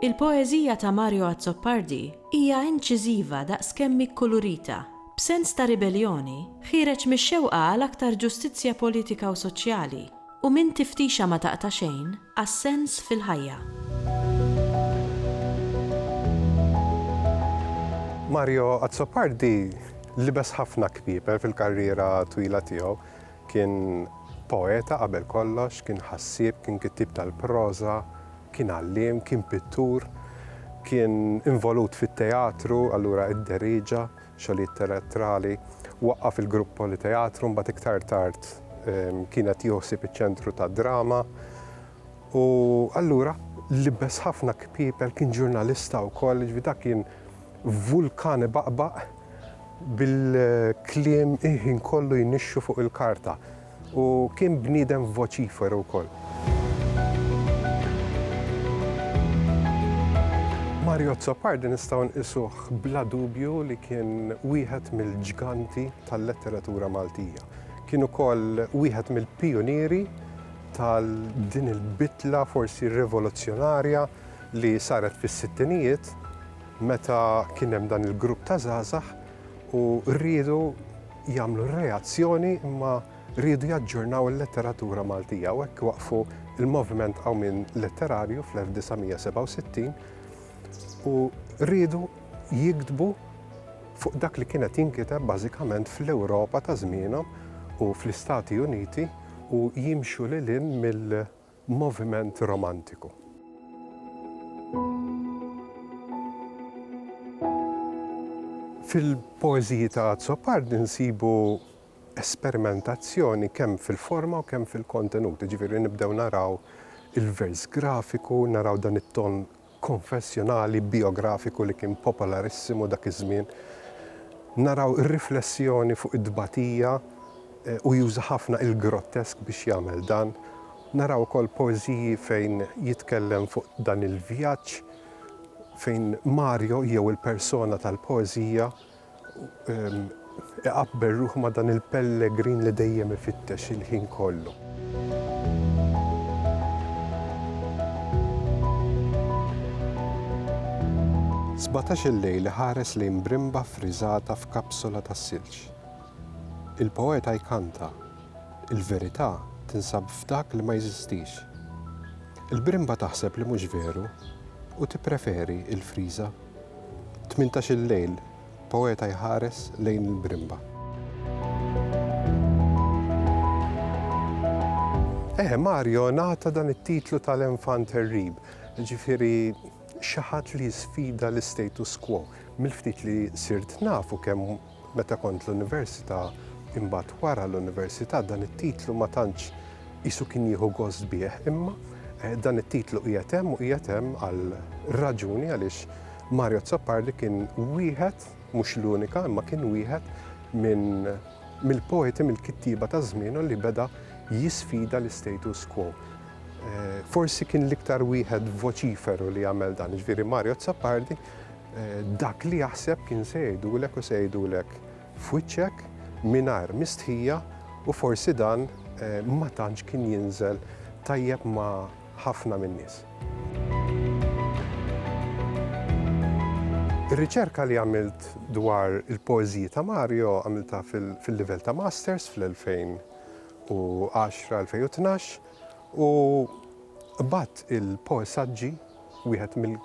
Il-poeżija ta' Mario Azzopardi hija inċiżiva daqs kemm hi kkulurita. B'sens ta' ribelljoni, ħiereġ mix-xewqa għal aktar ġustizzja politika u soċjali, u minn tiftixa ma taqta' xejn, għas-sens fil-ħajja. Mario Azzopardi libes ħafna kpieper fil-karriera twila tiegħu. Kien poeta qabel kollox, kien ħassieb, kien kittieb tal-proża, kien għalliem, kien pittur, kien involut fit-teatru, allura id-deriġa, xogħlijiet teatrali, waqqaf il-Grupp Politeatru, mbagħad iktar tard kien qed jieħu ħsieb iċ-Ċentru tad-Drama. U allura libbes ħafna kpiepel kien ġurnalista wkoll, ġifi dak kien vulkan ibaqbaq bil-kliem iħin kollu jnixxu fuq il-karta. U kien bniedem voċiferu wkoll. Mario Azzopardi nistgħu nqisuh bla dubju li kien wieħed mill-ġganti tal-letteratura Maltija. Kien ukoll wieħed mill-pijunieri tal din il-bidla forsi rivoluzzjonarja li saret fis-sittinijiet meta kien hemm dan il-grupp ta' żgħażagħ u riedu jagħmlu r-reazzjoni imma riedu jaġġornaw il-letteratura Maltija u hekk waqfu il-moviment qawmin letterarju fl-1967 u riedu jiktbu fuq dak li kienet jinkiteb bażikament fl-Ewropa ta' żmienhom u fl-Istati Uniti u jimxu lil mill moviment romantiku. Fil-poeżiji ta' Azzopardi nsibu esperimentazzjoni kemm fil-forma u kemm fil-kontenut, jiġifieri nibdew naraw il-vers grafiku, naraw dan it-ton konfessjonali bijografiku li kien popolarissimu dak iż-żmien, naraw ir-riflessjoni fuq it-tbatija u juża ħafna il-grottesk biex jagħmel dan. Naraw ukoll poeżiji fejn jitkellem fuq dan il-vjaġġ fejn Mario jew il-persona tal-poeżija, Iqabbel ruħu ma' dan il-pellegrin li dejjem ifittex il-ħin kollu. Sbatax-il lejl iħares lejn brimba ffriżata f'kapsula tas-silġ. Il-poeta jkanta, Il-verità tinsab f'dak li ma jeżistix. Il-brimba taħseb li mhux veru u tippreferi l-friża. Tmintax-il lejl, poeta jħares lejn il-brimba. Eħe, Mario ngħata dan it-titlu tal-enfant terrib, jiġifieri xi ħadd li jisfida l-istatus quo. Mill-ftit li sirt nafu kemm Meta kont l-università, imbagħad wara l-università dan it-titlu ma tantx qisu kien jieħu gost bih, imma dan it-titlu qiegħed hemm u qiegħed hemm għal raġuni għaliex Mario Azzopardi kien wieħed, mhux l-unika, imma kien wieħed minn mill-poeti, mill-kittieba ta' żmienu li beda jisfida l-istatus quo. Forsi kien l-iktar wieħed voċiferu li għamel dan, ġifieri Mario Azzopardi Dak li jaħseb kien se jgħidulek u se jgħidulek f'wiċċek mingħajr mistħija u forsi dan ma tantx kien jinżel tajjeb ma' ħafna min-nies. Ir-riċerka li għamilt dwar il-poeżiji ta' Mario għamiltha fil-livell ta' Masters fl-2010-2012 u qbadt il-poesaġġi, wieħed mill.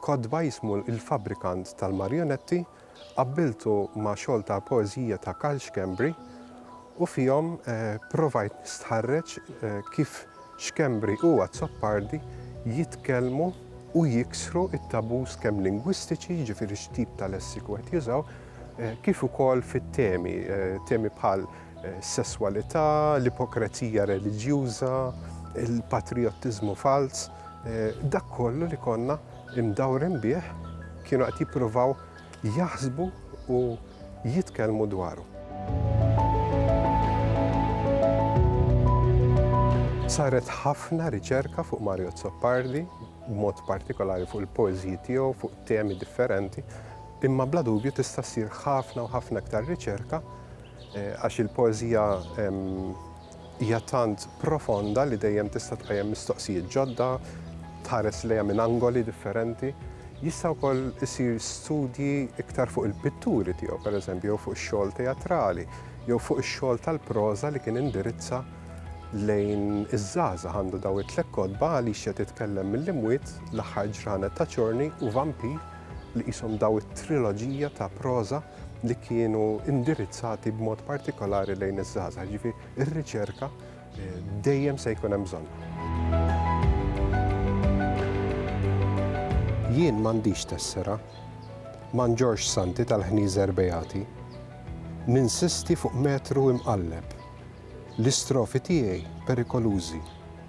Kotba jismu Il-Fabbrikant tal-Marjonetti qabbiltu ma' xogħol ta' poeżija ta' Karl Schembri u fihom provajt nistħarreġ kif Schembri u Azzopardi jitkellmu u jiksru t-tabus kemm lingwistiċi, jiġifieri x'tip ta' lessiku qed jużaw, kif ukoll fit-temi, temi bħal sesswalità, l-ipokrezija reliġjuża, il-patrijottiżmu falz. Dak kollu li konna mdawrin bih kienu qed jippruvaw jaħsbu u jitkellmu dwaru. Saret ħafna riċerka fuq Mario Azzopardi, b'mod partikolari fuq il-poeżiji tiegħu fuq temi differenti, imma bla dubju tista' ssir ħafna u ħafna iktar riċerka għax il-poeżija Hija tant profonda li dejjem tista' tqajjem mistoqsijiet ġodda, tħares lejha minn angoli differenti. Jista' wkoll isir studji iktar fuq il-pitturi tiegħu, pereżempju, jew fuq ix-xogħol teatrali, jew fuq ix-xogħol tal-proża li kien indirizza lejn iż-żgħażagħ. Għandu dawn it-tliet kotba, Alicia titkellem mill-imwiet, L-aħħar ġranet ta' Chorney u Vampir li qishom dawn it-triloġija ta' proża. li kienu indirizzati b'mod partikolari lejn iż-żgħażagħ, ġifi ir-riċerka eh, dejjem se jkun hemm bżonn. Jien m'għandix tessera, ma nġorx santi tal-ħnieżer beati, ninsisti fuq metru imqalleb, l-istrofi tiegħi perikolużi,